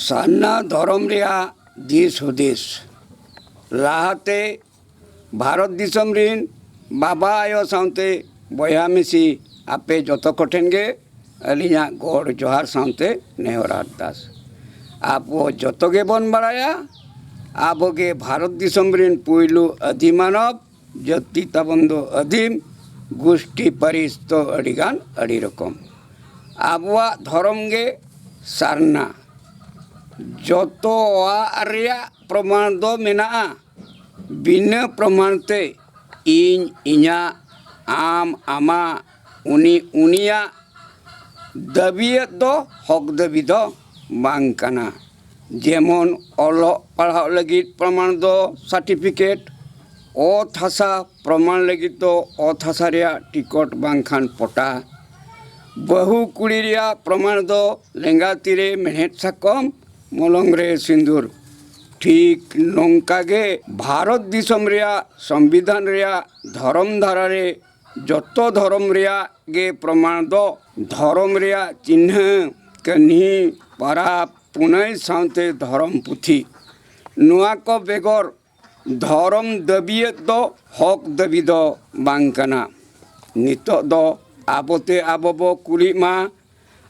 ᱥᱟᱨᱱᱟ ᱫᱷᱚᱨᱚᱢ ᱨᱮᱭᱟᱜ ᱫᱤᱥ ᱦᱩᱫᱤᱥ ᱞᱟᱦᱟᱛᱮ ᱵᱷᱟᱨᱚᱛ ᱫᱤᱥᱚᱢ ᱨᱤᱱ ᱵᱟᱵᱟ ᱟᱭᱳ ᱥᱟᱶᱛᱮ ᱵᱚᱭᱦᱟ ᱢᱤᱥᱤ ᱟᱯᱮ ᱡᱚᱛᱚ ᱠᱚᱴᱷᱮᱱ ᱜᱮ ᱟᱹᱞᱤᱧᱟᱜ ᱜᱚᱰ ᱡᱚᱦᱟᱨ ᱥᱟᱶᱛᱮ ᱱᱮᱦᱚᱨ ᱟᱨᱫᱟᱥ ᱟᱵᱚ ᱡᱚᱛᱚ ᱜᱮᱵᱚᱱ ᱵᱟᱲᱟᱭᱟ ᱟᱵᱚ ᱜᱮ ᱵᱷᱟᱨᱚᱛ ᱫᱤᱥᱚᱢ ᱨᱤᱱ ᱯᱩᱭᱞᱩ ᱟᱹᱫᱤ ᱢᱟᱱᱚᱵ ᱡᱟᱹᱛᱤ ᱛᱟᱵᱚᱱ ᱫᱚ ᱟᱹᱫᱤᱢ ᱜᱩᱥᱴᱤ ᱯᱟᱹᱨᱤᱥ ᱫᱚ ᱟᱹᱰᱤ ᱜᱟᱱ ᱟᱹᱰᱤ ᱨᱚᱠᱚᱢ ᱟᱵᱚᱣᱟᱜ ᱫᱷᱚᱨᱚᱢ ᱜᱮ ᱥᱟᱨᱱᱟ ᱡᱚᱛᱚᱣᱟᱜ ᱨᱮᱭᱟᱜ ᱯᱨᱚᱢᱟᱱ ᱫᱚ ᱢᱮᱱᱟᱜᱼᱟ ᱵᱤᱱᱟᱹ ᱯᱨᱚᱢᱟᱱ ᱛᱮ ᱤᱧ ᱤᱧᱟᱹᱜ ᱟᱢ ᱟᱢᱟᱜ ᱩᱱᱤ ᱩᱱᱤᱭᱟᱜ ᱫᱟᱹᱵᱤᱭᱮᱫ ᱫᱚ ᱦᱚᱠ ᱫᱟᱹᱵᱤ ᱫᱚ ᱵᱟᱝ ᱠᱟᱱᱟ ᱡᱮᱢᱚᱱ ᱚᱞᱚᱜ ᱯᱟᱲᱦᱟᱜ ᱞᱟᱹᱜᱤᱫ ᱯᱨᱚᱢᱟᱱ ᱫᱚ ᱥᱟᱨᱴᱤᱯᱷᱤᱠᱮᱴ ᱚᱛ ᱦᱟᱥᱟ ᱯᱨᱚᱢᱟᱱ ᱞᱟᱹᱜᱤᱫ ᱫᱚ ᱚᱛ ᱦᱟᱥᱟ ᱨᱮᱭᱟᱜ ᱴᱤᱠᱤᱴ ᱵᱟᱝᱠᱷᱟᱱ ᱯᱚᱴᱟ ᱵᱟᱹᱦᱩ ᱠᱩᱲᱤ ᱨᱮᱭᱟᱜ ᱯᱨᱚᱢᱟᱱ ᱫᱚ ᱞᱮᱸᱜᱟ ᱛᱤᱨᱮ ᱢᱮᱬᱦᱮᱫ ᱥᱟᱠᱚᱢ ᱢᱚᱞᱚᱝ ᱨᱮ ᱥᱤᱸᱫᱩᱨ ᱴᱷᱤᱠ ᱱᱚᱝᱠᱟ ᱜᱮ ᱵᱷᱟᱨᱚᱛ ᱫᱤᱥᱚᱢ ᱨᱮᱭᱟᱜ ᱥᱚᱝᱵᱤᱫᱷᱟᱱ ᱨᱮᱭᱟᱜ ᱫᱷᱚᱨᱚᱢ ᱫᱷᱟᱨᱟ ᱨᱮ ᱡᱚᱛᱚ ᱫᱷᱚᱨᱚᱢ ᱨᱮᱭᱟᱜ ᱜᱮ ᱯᱨᱚᱢᱟᱬ ᱫᱚ ᱫᱷᱚᱨᱚᱢ ᱨᱮᱭᱟᱜ ᱪᱤᱱᱦᱟᱹ ᱠᱟᱹᱦᱱᱤ ᱯᱟᱨᱟᱵᱽ ᱯᱩᱱᱟᱹᱭ ᱥᱟᱶᱛᱮ ᱫᱷᱚᱨᱚᱢ ᱯᱩᱛᱷᱤ ᱱᱚᱣᱟ ᱠᱚ ᱵᱮᱜᱚᱨ ᱫᱷᱚᱨᱚᱢ ᱫᱟᱹᱵᱤᱭᱟᱹᱜ ᱫᱚ ᱦᱚᱠ ᱫᱟᱹᱵᱤ ᱫᱚ ᱵᱟᱝ ᱠᱟᱱᱟ ᱱᱤᱛᱚᱜ ᱫᱚ ᱟᱵᱚ ᱛᱮ ᱟᱵᱚ ᱵᱚ ᱠᱩᱞᱤᱜ ᱢᱟ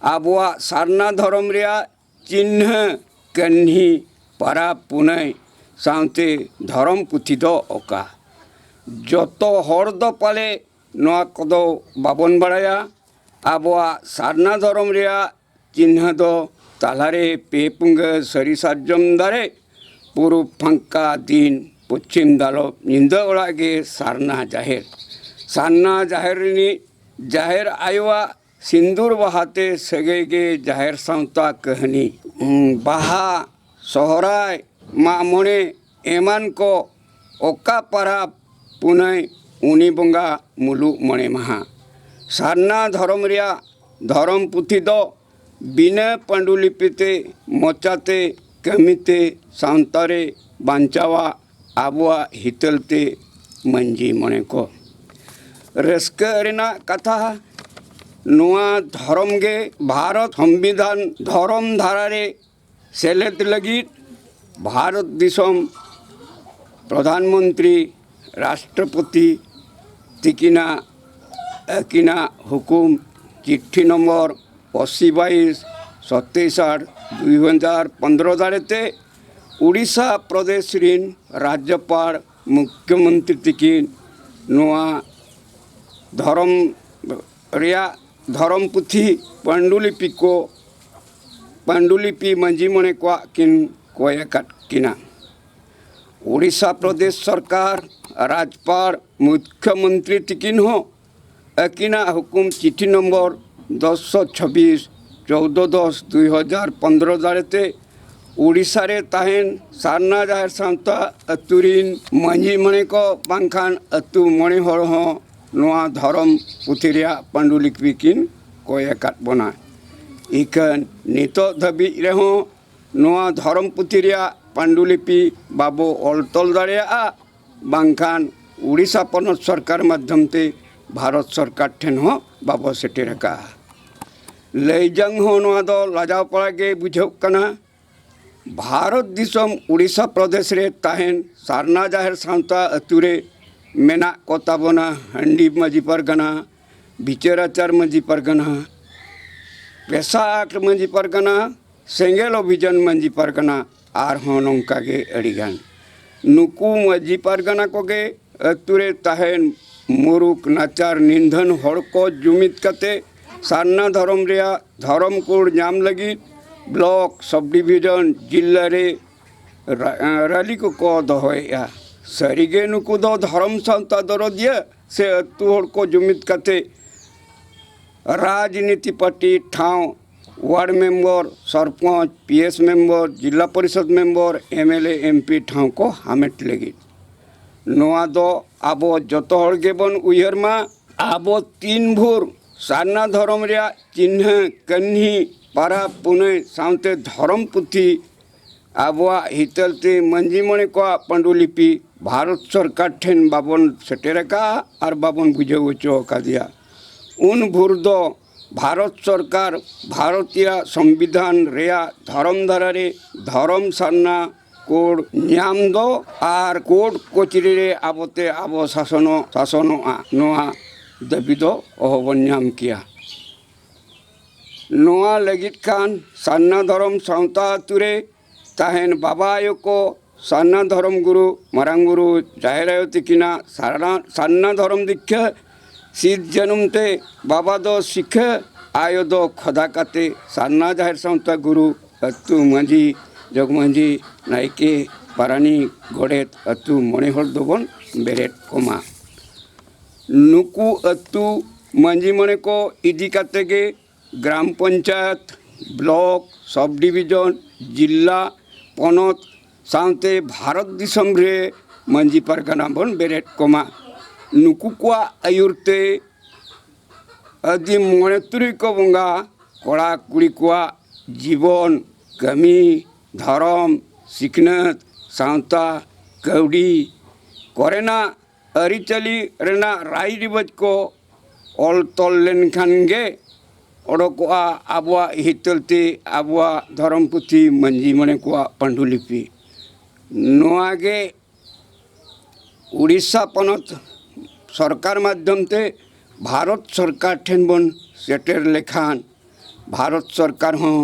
ᱟᱵᱚᱣᱟᱜ ᱥᱟᱨᱱᱟ ᱫᱷᱚᱨᱚᱢ ᱨᱮᱭᱟᱜ ᱪᱤᱱᱦᱟᱹ ᱠᱟᱹᱱᱦᱤ ᱯᱟᱨᱟᱵᱽ ᱯᱩᱱᱟᱹᱭ ᱥᱟᱶᱛᱮ ᱫᱷᱚᱨᱚᱢ ᱯᱩᱛᱷᱤ ᱫᱚ ᱚᱠᱟ ᱡᱚᱛᱚ ᱦᱚᱲ ᱫᱚ ᱯᱟᱞᱮ ᱱᱚᱣᱟ ᱠᱚᱫᱚ ᱵᱟᱵᱚᱱ ᱵᱟᱲᱟᱭᱟ ᱟᱵᱚᱣᱟᱜ ᱥᱟᱨᱱᱟ ᱫᱷᱚᱨᱚᱢ ᱨᱮᱭᱟᱜ ᱪᱤᱱᱦᱟᱹ ᱫᱚ ᱛᱟᱞᱟ ᱨᱮ ᱯᱮ ᱯᱩᱝᱜᱟᱹ ᱥᱟᱹᱨᱤ ᱥᱟᱨᱡᱚᱢ ᱫᱟᱨᱮ ᱯᱩᱨᱩᱵᱽ ᱯᱷᱟᱸᱠᱟ ᱫᱤᱱ ᱯᱚᱪᱷᱤᱢ ᱫᱟᱞᱚᱵ ᱧᱤᱫᱟᱹ ᱚᱲᱟᱜ ᱜᱮ ᱥᱟᱨᱱᱟ ᱡᱟᱦᱮᱨ ᱥᱟᱨᱱᱟ ᱡᱟᱦᱮᱨ ᱨᱤᱱᱤᱡ ᱡᱟᱦᱮᱨ ᱟᱭᱳᱣᱟᱜ ᱥᱤᱱᱫᱩᱨ ᱵᱟᱦᱟ ᱛᱮ ᱥᱟᱹᱜᱟᱹᱭ ᱜᱮ ᱡᱟᱦᱮᱨ ᱥᱟᱶᱛᱟ ᱠᱟᱹᱦᱱᱤ ᱵᱟᱦᱟ ᱥᱚᱦᱨᱟᱭ ᱢᱟᱜ ᱢᱚᱬᱮ ᱮᱢᱟᱱ ᱠᱚ ᱚᱠᱟ ᱯᱟᱨᱟᱵᱽ ᱯᱩᱱᱟᱹᱭ ᱩᱱᱤ ᱵᱚᱸᱜᱟ ᱢᱩᱞᱩᱜ ᱢᱚᱬᱮ ᱢᱟᱦᱟ ᱥᱟᱨᱱᱟ ᱫᱷᱚᱨᱚᱢ ᱨᱮᱭᱟᱜ ᱫᱷᱚᱨᱚᱢ ᱯᱩᱛᱷᱤ ᱫᱚ ᱵᱤᱱᱟᱹ ᱯᱟᱹᱰᱩᱞᱤᱯᱤ ᱛᱮ ᱢᱚᱪᱟᱛᱮ ᱠᱟᱹᱢᱤᱛᱮ ᱥᱟᱶᱛᱟ ᱨᱮ ᱵᱟᱧᱪᱟᱣᱟᱜ ᱟᱵᱚᱣᱟᱜ ᱦᱤᱛᱟᱹᱞ ᱛᱮ ᱢᱟᱹᱱᱡᱤ ᱢᱚᱬᱮ ᱠᱚ ᱨᱟᱹᱥᱠᱟᱹ ᱨᱮᱱᱟᱜ ᱠᱟᱛᱷᱟ ᱱᱚᱣᱟ ᱫᱷᱚᱨᱚᱢ ᱜᱮ ᱵᱷᱟᱨᱚᱛ ᱥᱚᱝᱵᱤᱫᱷᱟᱱ ᱫᱷᱚᱨᱚᱢ ᱫᱷᱟᱨᱟ ᱨᱮ ᱥᱮᱞᱮᱫ ᱞᱟᱹᱜᱤᱫ ᱵᱷᱟᱨᱚᱛ ᱫᱤᱥᱚᱢ ᱯᱨᱚᱫᱷᱟᱱ ᱢᱚᱱᱛᱨᱤ ᱨᱟᱥᱴᱨᱚᱯᱚᱛᱤ ᱛᱤᱠᱤᱱᱟᱜ ᱟᱹᱠᱤᱱᱟᱜ ᱦᱩᱠᱩᱢ ᱪᱤᱴᱷᱤ ᱱᱚᱢᱵᱚᱨ ᱚᱥᱤ ᱵᱟᱭᱤᱥ ᱪᱷᱚᱛᱨᱤᱥ ᱟᱴ ᱫᱩᱭ ᱦᱟᱡᱟᱨ ᱯᱚᱸᱫᱽᱨᱚ ᱫᱟᱲᱮᱛᱮ ᱳᱰᱤᱥᱟ ᱯᱨᱚᱫᱮᱥ ᱨᱮᱱ ᱨᱟᱡᱽᱡᱚᱯᱟᱲ ᱢᱩᱠᱷᱭᱚ ᱢᱚᱱᱛᱨᱤ ᱛᱤᱠᱤᱱ ᱱᱚᱣᱟ ᱫᱷᱚᱨᱚᱢ ᱨᱮᱭᱟᱜ ᱫᱷᱚᱨᱚᱢ ᱯᱩᱛᱷᱤ ᱯᱟᱹᱱᱰᱩᱞᱤᱯᱤ ᱠᱚ ᱯᱟᱹᱱᱰᱩᱞᱤᱯᱤ ᱢᱟᱹᱡᱷᱤ ᱢᱚᱬᱮ ᱠᱚᱣᱟᱜ ᱠᱤᱱ ᱠᱚᱭ ᱟᱠᱟᱫ ᱠᱤᱱᱟ ᱳᱰᱤᱥᱟ ᱯᱨᱚᱫᱮᱥ ᱥᱚᱨᱠᱟᱨ ᱨᱟᱡᱽᱯᱟᱲ ᱢᱩᱠᱷᱭᱚ ᱢᱚᱱᱛᱨᱤ ᱛᱤᱠᱤᱱ ᱦᱚᱸ ᱟᱹᱠᱤᱱᱟᱜ ᱦᱩᱠᱩᱢ ᱪᱤᱴᱷᱤ ᱱᱚᱢᱵᱚᱨ ᱫᱚᱥ ᱥᱚ ᱪᱷᱟᱵᱤᱥ ᱪᱳᱣᱫᱚ ᱫᱚᱥ ᱫᱩᱭ ᱦᱟᱡᱟᱨ ᱯᱚᱱᱫᱽᱨᱚ ᱫᱟᱲᱮᱛᱮ ᱳᱰᱤᱥᱟ ᱨᱮ ᱛᱟᱦᱮᱱ ᱥᱟᱨᱱᱟ ᱡᱟᱦᱮᱨ ᱥᱟᱶᱛᱟ ᱟᱹᱛᱩ ᱨᱤᱱ ᱢᱟᱹᱡᱷᱤ ᱢᱚᱬᱮ ᱠᱚ ᱵᱟᱝᱠᱷᱟᱱ ᱟᱹᱛᱩ ᱢᱚᱬᱮ ᱦᱚᱲ ᱦᱚᱸ ᱱᱚᱣᱟ ᱫᱷᱚᱨᱚᱢ ᱯᱩᱛᱷᱤ ᱨᱮᱭᱟᱜ ᱯᱟᱹᱰᱩᱞᱤᱯᱤ ᱠᱤᱱ ᱠᱚᱭ ᱟᱠᱟᱫ ᱵᱚᱱᱟ ᱤᱠᱷᱟᱹᱱ ᱱᱤᱛᱚᱜ ᱫᱷᱟᱹᱵᱤᱡ ᱨᱮᱦᱚᱸ ᱱᱚᱣᱟ ᱫᱷᱚᱨᱚᱢ ᱯᱩᱛᱷᱤ ᱨᱮᱭᱟᱜ ᱯᱟᱹᱰᱩᱞᱤᱯᱤ ᱵᱟᱵᱚ ᱚᱞ ᱛᱚᱞ ᱫᱟᱲᱮᱭᱟᱜᱼᱟ ᱵᱟᱝᱠᱷᱟᱱ ᱳᱰᱤᱥᱟ ᱯᱚᱱᱚᱛ ᱥᱚᱨᱠᱟᱨ ᱢᱟᱫᱽᱫᱷᱚᱢ ᱛᱮ ᱵᱷᱟᱨᱚᱛ ᱥᱚᱨᱠᱟᱨ ᱴᱷᱮᱱ ᱦᱚᱸ ᱵᱟᱵᱚ ᱥᱮᱴᱮᱨ ᱟᱠᱟᱫᱼᱟ ᱞᱟᱹᱭ ᱡᱚᱝ ᱦᱚᱸ ᱱᱚᱣᱟ ᱫᱚ ᱞᱟᱡᱟᱣ ᱯᱟᱲᱟ ᱜᱮ ᱵᱩᱡᱷᱟᱹᱜ ᱠᱟᱱᱟ ᱵᱷᱟᱨᱚᱛ ᱫᱤᱥᱚᱢ ᱳᱰᱤᱥᱟ ᱯᱨᱚᱫᱮᱥ ᱨᱮ ᱛᱟᱦᱮᱱ ᱥᱟᱨᱱᱟ ᱡᱟᱦᱮᱨ ᱥᱟᱶᱛᱟ ᱟᱹᱛᱩ ᱨᱮ ᱢᱮᱱᱟᱜ ᱠᱚ ᱛᱟᱵᱚᱱᱟ ᱦᱟᱺᱰᱤ ᱢᱟᱹᱡᱷᱤ ᱯᱟᱨᱜᱟᱱᱟ ᱵᱤᱪᱟᱹᱨ ᱟᱪᱟᱨ ᱢᱟᱹᱡᱷᱤ ᱯᱟᱨᱜᱟᱱᱟ ᱯᱮᱥᱟ ᱟᱨᱴ ᱢᱟᱹᱡᱷᱤ ᱯᱟᱨᱜᱟᱱᱟ ᱥᱮᱸᱜᱮᱞ ᱚᱵᱷᱤᱡᱟᱱ ᱢᱟᱹᱡᱷᱤ ᱯᱟᱨᱜᱟᱱᱟ ᱟᱨᱦᱚᱸ ᱱᱚᱝᱠᱟ ᱜᱮ ᱟᱹᱰᱤ ᱜᱟᱱ ᱱᱩᱠᱩ ᱢᱟᱹᱡᱷᱤ ᱯᱟᱨᱜᱟᱱᱟ ᱠᱚᱜᱮ ᱟᱹᱛᱩ ᱨᱮ ᱛᱟᱦᱮᱱ ᱢᱩᱨᱩᱠ ᱱᱟᱪᱟᱨ ᱱᱤᱫᱷᱟᱹᱱ ᱦᱚᱲ ᱠᱚ ᱡᱩᱢᱤᱫ ᱠᱟᱛᱮ ᱥᱟᱨᱱᱟ ᱫᱷᱚᱨᱚᱢ ᱨᱮᱭᱟᱜ ᱫᱷᱚᱨᱚᱢ ᱠᱳᱰ ᱧᱟᱢ ᱞᱟᱹᱜᱤᱫ ᱵᱞᱚᱠ ᱥᱚᱵᱽ ᱰᱤᱵᱷᱤᱡᱚᱱ ᱡᱤᱞᱟᱹ ᱨᱮ ᱨᱟᱹᱞᱤ ᱠᱚᱠᱚ ᱫᱚᱦᱚᱭᱮᱜᱼᱟ ᱥᱟᱹᱨᱤ ᱜᱮ ᱱᱩᱠᱩ ᱫᱚ ᱫᱷᱚᱨᱚᱢ ᱥᱟᱶᱛᱟ ᱫᱚᱨᱚᱫᱤᱭᱟᱹ ᱥᱮ ᱟᱹᱛᱩ ᱦᱚᱲ ᱠᱚ ᱡᱩᱢᱤᱫ ᱠᱟᱛᱮ ᱨᱟᱡᱽᱱᱤᱛᱤ ᱯᱟᱴᱤ ᱴᱷᱟᱶ ward member sarpanch P S member Zila Parishad member M L A M P ᱴᱷᱟᱶ ᱠᱚ ᱦᱟᱢᱮᱴ ᱞᱟᱹᱜᱤᱫ ᱱᱚᱣᱟ ᱫᱚ ᱟᱵᱚ ᱡᱚᱛᱚ ᱦᱚᱲ ᱜᱮᱵᱚᱱ ᱩᱭᱦᱟᱹᱨ ᱢᱟ ᱟᱵᱚ ᱛᱤᱱ ᱵᱷᱳᱨ ᱥᱟᱨᱱᱟ ᱫᱷᱚᱨᱚᱢ ᱨᱮᱭᱟᱜ ᱪᱤᱱᱦᱟᱹ ᱠᱟᱹᱱᱦᱤ ᱯᱟᱨᱟᱵᱽ ᱯᱩᱱᱟᱹᱭ ᱥᱟᱶᱛᱮ ᱫᱷᱚᱨᱚᱢ ᱯᱩᱛᱷᱤ ᱟᱵᱚᱣᱟᱜ ᱦᱤᱛᱟᱹᱞ ᱛᱮ ᱢᱟᱹᱡᱷᱤ ᱢᱚᱬᱮ ᱠᱚᱣᱟᱜ ᱯᱟᱹᱰᱩᱞᱤᱯᱤ ᱵᱷᱟᱨᱚᱛ ᱥᱚᱨᱠᱟᱨ ᱴᱷᱮᱱ ᱵᱟᱵᱚᱱ ᱥᱮᱴᱮᱨ ᱟᱠᱟᱫᱼᱟ ᱟᱨ ᱵᱟᱵᱚᱱ ᱵᱩᱡᱷᱟᱹᱣ ᱦᱚᱪᱚ ᱟᱠᱟᱫᱮᱭᱟ ᱩᱱ ᱵᱷᱳᱨ ᱫᱚ ᱵᱷᱟᱨᱚᱛ ᱥᱚᱨᱠᱟᱨ ᱵᱷᱟᱨᱚᱛᱤᱭᱟ ᱥᱚᱝᱵᱤᱫᱷᱟᱱ ᱨᱮᱭᱟᱜ ᱫᱷᱚᱨᱚᱢ ᱫᱷᱟᱨᱟ ᱨᱮ ᱫᱷᱚᱨᱚᱢ ᱥᱟᱨᱱᱟ ᱠᱳᱰ ᱧᱟᱢ ᱫᱚ ᱟᱨ ᱠᱳᱰ ᱠᱚᱪᱨᱤ ᱨᱮ ᱟᱵᱚ ᱛᱮ ᱟᱵᱚ ᱥᱟᱥᱚᱱᱚᱜ ᱥᱟᱥᱚᱱᱚᱜᱼᱟ ᱱᱚᱣᱟ ᱫᱟᱹᱵᱤ ᱫᱚ ᱚᱦᱚ ᱵᱚᱱ ᱧᱟᱢ ᱠᱮᱭᱟ ᱱᱚᱣᱟ ᱞᱟᱹᱜᱤᱫ ᱠᱷᱟᱱ ᱥᱟᱨᱱᱟ ᱫᱷᱚᱨᱚᱢ ᱥᱟᱶᱛᱟ ᱟᱹᱛᱩ ᱨᱮ ᱛᱟᱦᱮᱱ ᱵᱟᱵᱟ ᱟᱭᱳ ᱠᱚ ᱥᱟᱨᱱᱟ ᱫᱷᱚᱨᱚᱢ ᱜᱩᱨᱩ ᱢᱟᱨᱟᱝ ᱵᱩᱨᱩ ᱡᱟᱦᱮᱨ ᱟᱭᱳ ᱛᱤᱠᱤᱱᱟᱜ ᱥᱟᱨᱱᱟ ᱥᱟᱨᱱᱟ ᱫᱷᱚᱨᱚᱢ ᱫᱤᱠᱠᱷᱟᱹ ᱥᱤᱫ ᱡᱟᱹᱱᱩᱢ ᱛᱮ ᱵᱟᱵᱟ ᱫᱚ ᱥᱤᱠᱷᱟᱹ ᱟᱭᱳ ᱫᱚ ᱠᱷᱚᱫᱟ ᱠᱟᱛᱮ ᱥᱟᱨᱱᱟ ᱡᱟᱦᱮᱨ ᱥᱟᱶᱛᱟ ᱜᱩᱨᱩ ᱟᱹᱛᱩ ᱢᱟᱹᱡᱷᱤ ᱡᱚᱜᱽ ᱢᱟᱹᱡᱷᱤ ᱱᱟᱭᱠᱮ ᱯᱟᱨᱟᱱᱤᱠ ᱜᱚᱰᱮᱛ ᱟᱹᱛᱩ ᱢᱚᱬᱮ ᱦᱚᱲ ᱫᱚᱵᱚᱱ ᱵᱮᱨᱮᱫ ᱠᱚᱢᱟ ᱱᱩᱠᱩ ᱟᱹᱛᱩ ᱢᱟᱹᱡᱷᱤ ᱢᱚᱬᱮ ᱠᱚ ᱤᱫᱤ ᱠᱟᱛᱮ ᱜᱮ ᱜᱨᱟᱢ ᱯᱚᱧᱪᱟᱭᱚᱛ ᱵᱞᱚᱠ ᱥᱚᱵᱽ ᱰᱤᱵᱷᱤᱡᱚᱱ ᱡᱤᱞᱞᱟ ᱯᱚᱱᱚᱛ ᱥᱟᱶᱛᱮ ᱵᱷᱟᱨᱚᱛ ᱫᱤᱥᱚᱢ ᱨᱮ ᱢᱟᱹᱡᱷᱤ ᱯᱟᱨᱜᱟᱱᱟ ᱵᱚᱱ ᱵᱮᱨᱮᱫ ᱠᱚᱢᱟ ᱱᱩᱠᱩ ᱠᱚᱣᱟᱜ ᱟᱹᱭᱩᱨ ᱛᱮ ᱟᱹᱫᱤᱢ ᱢᱚᱬᱮ ᱛᱩᱨᱩᱭ ᱠᱚ ᱵᱚᱸᱜᱟ ᱠᱚᱲᱟᱼᱠᱩᱲᱤ ᱠᱚᱣᱟᱜ ᱡᱤᱵᱚᱱ ᱠᱟᱹᱢᱤ ᱫᱷᱚᱨᱚᱢ ᱥᱤᱠᱷᱱᱟᱹᱛ ᱥᱟᱶᱛᱟ ᱠᱟᱹᱣᱰᱤ ᱠᱚᱨᱮᱱᱟᱜ ᱟᱹᱨᱤᱪᱟᱹᱞᱤ ᱨᱮᱱᱟᱜ ᱨᱟᱭ ᱨᱤᱣᱟᱹᱡᱽ ᱠᱚ ᱚᱞ ᱛᱚᱞ ᱞᱮᱱᱠᱷᱟᱱ ᱜᱮ ᱚᱰᱚᱠᱚᱜᱼᱟ ᱟᱵᱚᱣᱟᱜ ᱦᱤᱛᱟᱹᱞ ᱛᱮ ᱟᱵᱚᱣᱟᱜ ᱫᱷᱚᱨᱚᱢ ᱯᱩᱛᱷᱤ ᱢᱟᱹᱡᱷᱤ ᱢᱚᱬᱮ ᱠᱚᱣᱟᱜ ᱯᱟᱹᱰᱩᱞᱤᱯᱤ ᱱᱚᱣᱟ ᱜᱮ ᱳᱰᱤᱥᱟ ᱯᱚᱱᱚᱛ ᱥᱚᱨᱠᱟᱨ ᱢᱟᱫᱽᱫᱷᱚᱢ ᱛᱮ ᱵᱷᱟᱨᱚᱛ ᱥᱚᱨᱠᱟᱨ ᱴᱷᱮᱱ ᱵᱚᱱ ᱥᱮᱴᱮᱨ ᱞᱮᱠᱷᱟᱱ ᱵᱷᱟᱨᱚᱛ ᱥᱚᱨᱠᱟᱨ ᱦᱚᱸ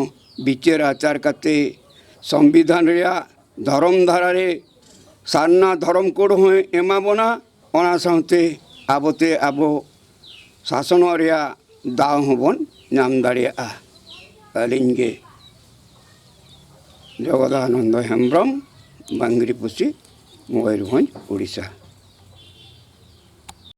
ᱵᱤᱪᱟᱹᱨ ᱟᱪᱟᱨ ᱠᱟᱛᱮᱫ ᱥᱚᱝᱵᱤᱫᱷᱟᱱ ᱨᱮᱭᱟᱜ ᱫᱷᱚᱨᱚᱢ ᱫᱷᱟᱨᱟ ᱨᱮ ᱥᱟᱨᱱᱟ ᱫᱷᱚᱨᱚᱢ ᱠᱳᱰ ᱦᱚᱸᱭ ᱮᱢᱟ ᱵᱚᱱᱟ ᱚᱱᱟ ᱥᱟᱶᱛᱮ ᱟᱵᱚᱛᱮ ᱟᱵᱚ ᱥᱟᱥᱚᱱᱚᱜ ᱨᱮᱭᱟᱜ ᱫᱟᱣ ᱦᱚᱸᱵᱚᱱ ᱧᱟᱢ ᱫᱟᱲᱮᱭᱟᱜᱼᱟ ᱟᱹᱞᱤᱧ ᱜᱮ ᱡᱚᱜᱚᱫᱟᱱᱚᱱᱫᱚ ᱦᱮᱢᱵᱨᱚᱢ ᱵᱟᱝᱜᱨᱤᱯᱩᱥᱤ ᱢᱚᱭᱩᱨᱵᱷᱚᱸᱡᱽ ᱩᱲᱤᱥᱥᱟ